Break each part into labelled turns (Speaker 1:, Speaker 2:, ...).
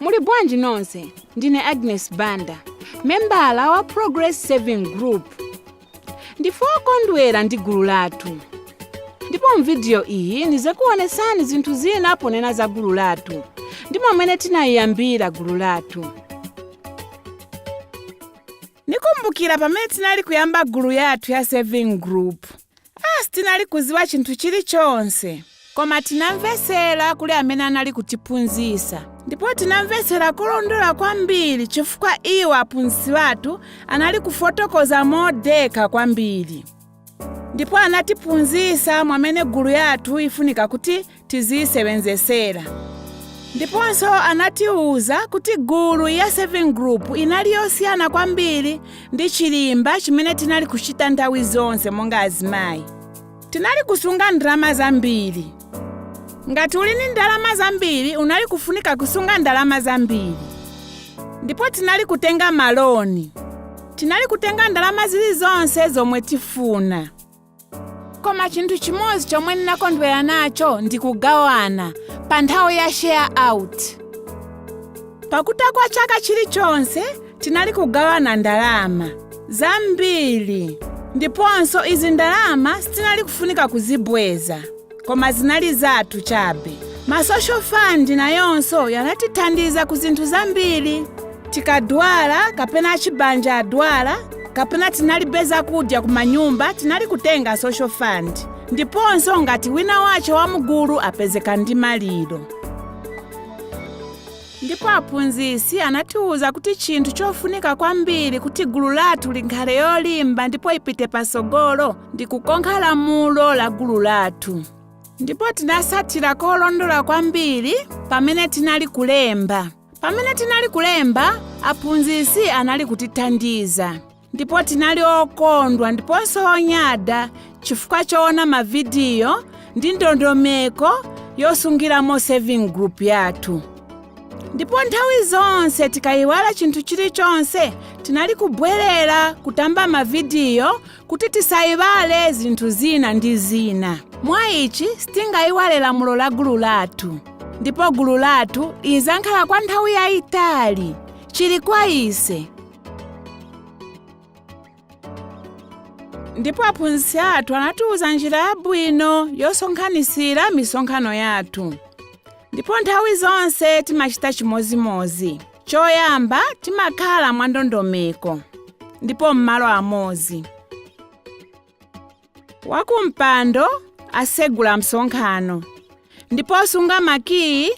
Speaker 1: muli bwanji nonse ndine agnes banda membala wa progress saving group ndife okondwera ndi gulu lathu ndipo mvidiyo iyi ndizikuonesani zinthu zina ponena za gulu lathu ndi momwe tinayiyambira gulu lathu ndikumbukira pamene tinali kuyamba gulu yathu ya saving group Ah, sitinali kuziwa chinthu chilichonse koma tinamvetsera kuli amene anali kutiphunzitsa ndipo tinamvetsera kulondola kwambiri chifukwa iwo aphunzitsi athu anali kufotokoza modekha kwambiri ndipo anatiphunzitsa mwamene gulu yathu ifunika kuti tiziyisebenzesera ndiponso anatiwuza kuti gulu ya saving group inali yosiyana kwambiri ndi chilimba chimene tinali kuchita nthawi zonse monga azimayi tinali kusunga ndalama zambiri ngati uli ndi ndalama zambiri unali kufunika kusunga ndalama zambiri ndipo tinali kutenga maloni tinali kutenga ndalama zilizonse zomwe tifuna koma chinthu chimodzi chomwe ndinakondwera nacho ndi kugawana pa nthawi ya share out pakutha kwa chaka chilichonse tinali kugawana ndalama zambiri ndiponso izi ndalama sitinali kufunika kuzibweza koma zinali zathu chabe masocial fund nayonso yanatithandiza ku zinthu zambiri tikadwala kapena achibanja adwala kapena tinalibe zakudya ku manyumba tinali kutenga social fund ndiponso ngati wina wace wa mgulu apezeka ndi maliro ndipo aphunzitsi anatiwuza kuti chinthu chofunika kwambiri kuti gulu lathu likhale yolimba ndipo ipite patsogolo ndi kukonkha lamulo la gulu lathu ndipo tinatsatira kolondola kwambiri pamene tinali kulemba pamene tinali kulemba aphunzitsi anali kutithandiza ndipo tinali okondwa ndiponso onyada chifukwa choona mavidiyo ndi ndondomeko yosungiramo saving group yathu ndipo nthawi zonse tikayiwala chinthu chilichonse tinali kubwerera kutamba mavidiyo kuti tisayiwale zinthu zina ndi zina mwa ichi sitingayiwale lamulo la gulu lathu ndipo gulu lathu lizankhala kwa nthawi yayitali chili kwa ise ndipo aphunzitsi athu anatiwuza njira yabwino yosonkhanitsira misonkhano yathu ndipo nthawi zonse timachita chimodzimodzi choyamba timakhala mwandondomeko ndipo m'malo amodzi wakumpando asegula msonkhano ndipo osunga makiyi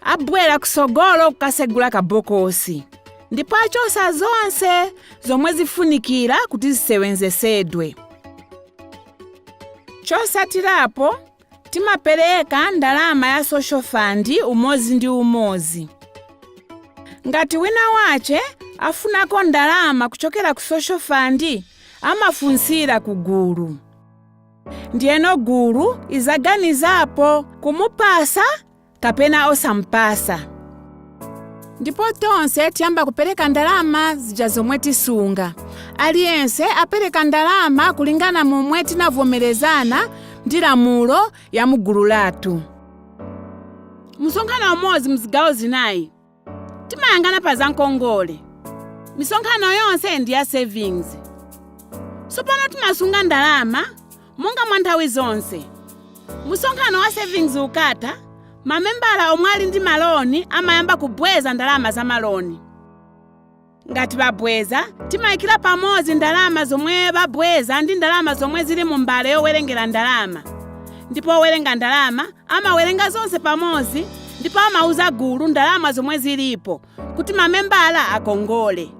Speaker 1: abwera kusogolo kukasegula kabokosi ndipo achosa zonse zomwe zifunikira kuti zisewenzesedwe chosatirapo timapereka ndalama ya social fund umozi ndi umozi ngati wina wache afunako ndalama kuchokera ku social fund amafunsira ku gulu ndiyeno gulu izaganizapo kumupasa kapena osamupasa ndipo tonse tiyamba kupereka ndalama zija zomwe tisunga aliyense apereka ndalama kulingana momwe tinavomerezana ndi lamulo ya mugulu lathu msonkhano umodzi mzigawo zinayi timayang'ana pa zankongole misonkhano yonse ndi ya savings sopano timasunga ndalama monga mwa nthawi zonse msonkhano wa savings ukatha mamembala omwe ali ndi maloni amayamba kubweza ndalama za maloni ngati babweza timayikira pamozi ndalama zomwe babweza ndi ndalama zomwe zili mu mbale yowerengera ndalama ndipo owerenga ndalama amawerenga zonse pamozi ndipo amauza gulu ndalama zomwe zilipo kuti mamembala akongole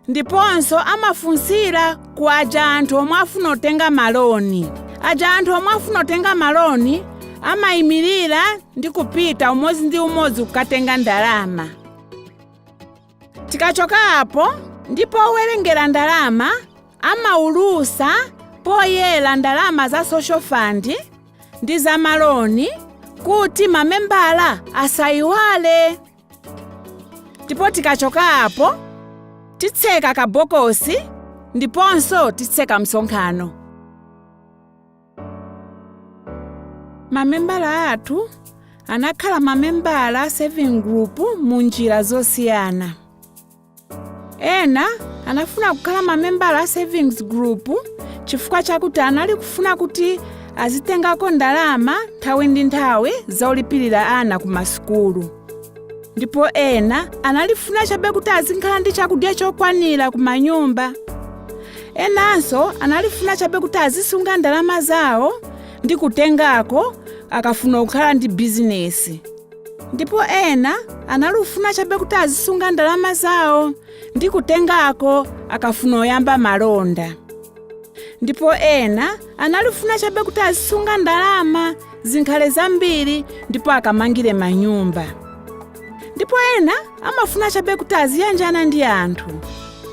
Speaker 1: ndiponso amafunsira ku aja anthu omwe afuna tenga maloni aja anthu omwe afuna tenga maloni amayimirira ndi kupita umozi ndi umozi kukatenga ndalama tikachoka apo ndipo owerengera ndalama amaulusa poyera ndalama za social fund ndi za maloni kuti mamembala asayiwale ndipo tikachokapo titseka kabokosi ndiponso titseka msonkhano mamembala athu anakhala mamembala a saving group mu njira zosiyana ena anafuna kukhala mamembala a savings group chifukwa chakuti anali kufuna kuti azitengako ndalama nthawi ndi nthawi zolipirira ana ku masukulu ndipo ena analifuna chabe kuti azinkhala ndi chakudya chokwanira ku manyumba enanso analifuna chabe kuti azisunga ndalama zawo ndi kutengako akafuna kukhala ndi bizinesi ndipo ena analufuna chabe kuti azisunga ndalama zawo ndi kutengako akafuna kuyamba malonda ndipo ena analufuna chabe kuti azisunga ndalama zinkhale zambiri ndipo akamangire manyumba ndipo ena amafuna chabe kuti aziyanjana ndi anthu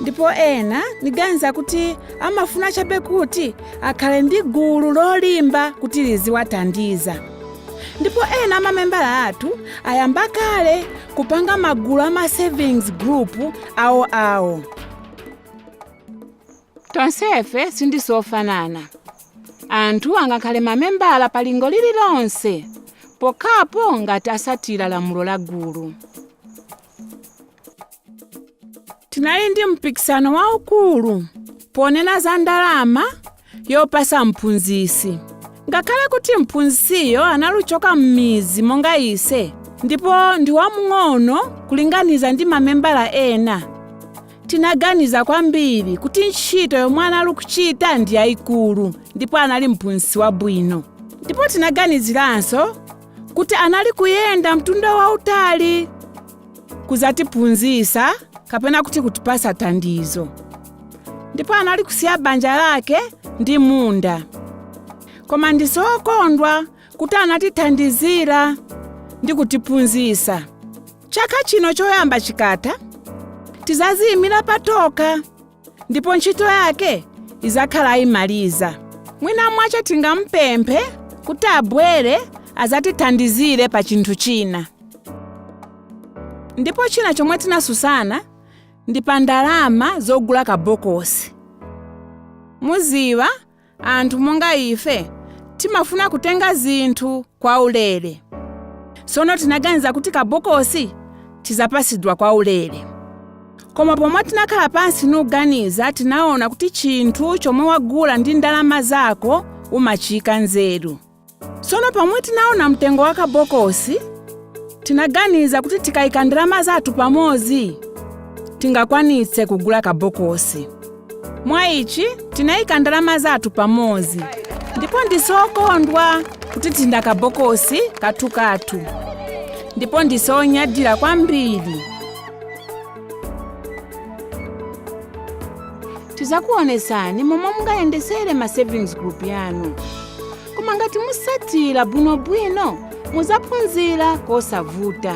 Speaker 1: ndipo ena niganiza kuti amafuna chabe kuti akhale ndi gulu lolimba kuti liziwathandiza ndipo ena amamembala athu ayamba kale kupanga magulu ama savings group awo awo tonsefe sindise ofanana anthu angakhale mamembala pa lingo lililonse pokhapo ngati asatira lamulo la gulu tinali ndi mpikisano waukulu ponena za ndalama yopasa mphunzisi ngakhale kuti mphunzisiyo analuchoka m'mizi monga ise ndipo ndi wamng'ono kulinganiza ndi mamembala ena tinaganiza kwambiri kuti ntchito yomwe anali kuchita ndi yayikulu ndipo anali mphunzisi wabwino ndipo tinaganiziranso kuti anali kuyenda mtunda wautali kuzatiphunzisa kapena kuti kutipasa thandizo ndipo anali kusiya banja lake ndi munda koma ndisokondwa kuti anatithandizira ndi kutiphunzisa chaka chino choyamba chikatha tizaziyimira patokha ndipo ntchito yake izakhala ayimaliza mwina mwache tingampemphe kuti abwere azatithandizire pa chinthu china ndipo china chomwe tinasusana ndi pa ndalama zogula kabokosi muziwa anthu monga ife timafuna kutenga zinthu kwa ulere sono tinaganiza kuti kabokosi tizapasidwa kwa ulere koma pomwe tinakhala pansi nuganiza tinaona kuti chinthu chomwe wagula ndi ndalama zako umachiyika nzeru sono pomwe tinaona mtengo wa kabokosi tinaganiza kuti tikayika ndalama zathu pamozi tingakwanitse kugula kabokosi mwa ichi tinayika ndalama zathu pamozi ndipo ndise okondwa kuti tinda kabokosi kathukathu ndipo ndise onyadira kwambiri tizakuonesani momwe mungayendesere ma savings group yanu koma ngati musatira bwinobwino muzaphunzira kosavuta